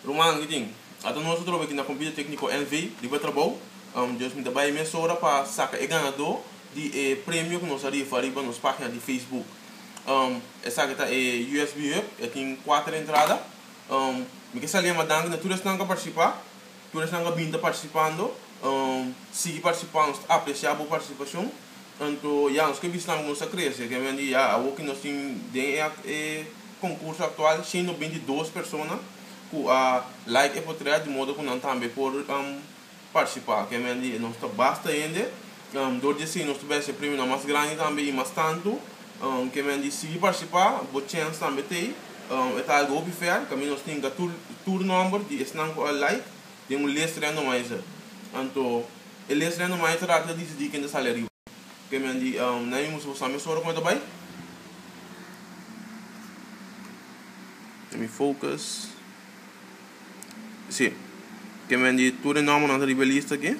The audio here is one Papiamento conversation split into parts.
Ruman ki tin ato nos otro beki na compite tecnico NV riba trabou Dios mi ta bay mesora pa saca e ganado di e premio cu nos a rifa riba nos pagina di Facebook esaki ta e usb hub e tin cuater entrada mi ke sali a ma danki na tur esnan cu a participa. Tur esnan a bin ta partisipando, sigui partisipá, nos ta apresiá bo partisipashon. Anto ya, nos ke bisnan ku nos ta krese, ke men di ya, awor ku nos tin den e konkurso aktual shin no binti dos persona ku a like e potrèt di modo ku nan tambe por partisipá, ke men di nos ta basta hende. Dor di esei nos ta bèstia premio nan mas grandi tambe i mas tantu ke men disidi partisipá bo chèns tambe ta ei. E ta algu hopi fèr kaminda nos tinga tur nòmber di esnan ku a like den un les Randomizer. Anto e les Randomizer aki ta disidí ken ta sali ariba. Ke men di nan ei musu pasá mester ora ku nan ta bai. Let me focus. Si, ke men di tur e nòmbernan ta riba e lista aki.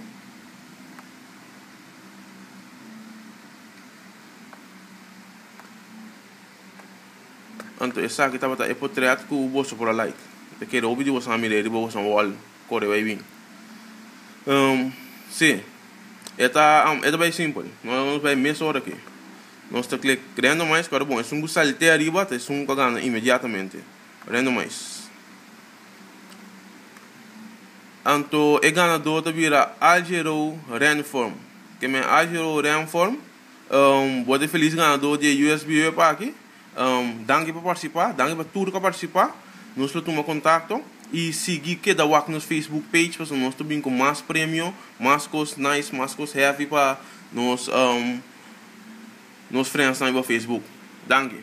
Anto esaki tabata e potrèt ku boso por a like. Te kere hopi di boso a mira e riba boso wall kore bai bin. Um, si, e ta, um, e ta bai simpel. Nos bai mes ora ki. Nos ta klik randomize, pero bon, esun ku salte ariba, ta esun ku a gana inmediatamente. Randomize. Anto e ganador ta bira Algero Renform. Ke men Algero Renform. Um, bo ta e felis ganador di e USB web aki. Um, danki pa participá, danki pa tur ka participá. Nos lo tuma contacto. I sigui keda wak nos Facebook page pasobra nos ta bin cu mas premio, mas cos nice, mas cos heavy pa nos um nos friendsnan riba Facebook. Danki.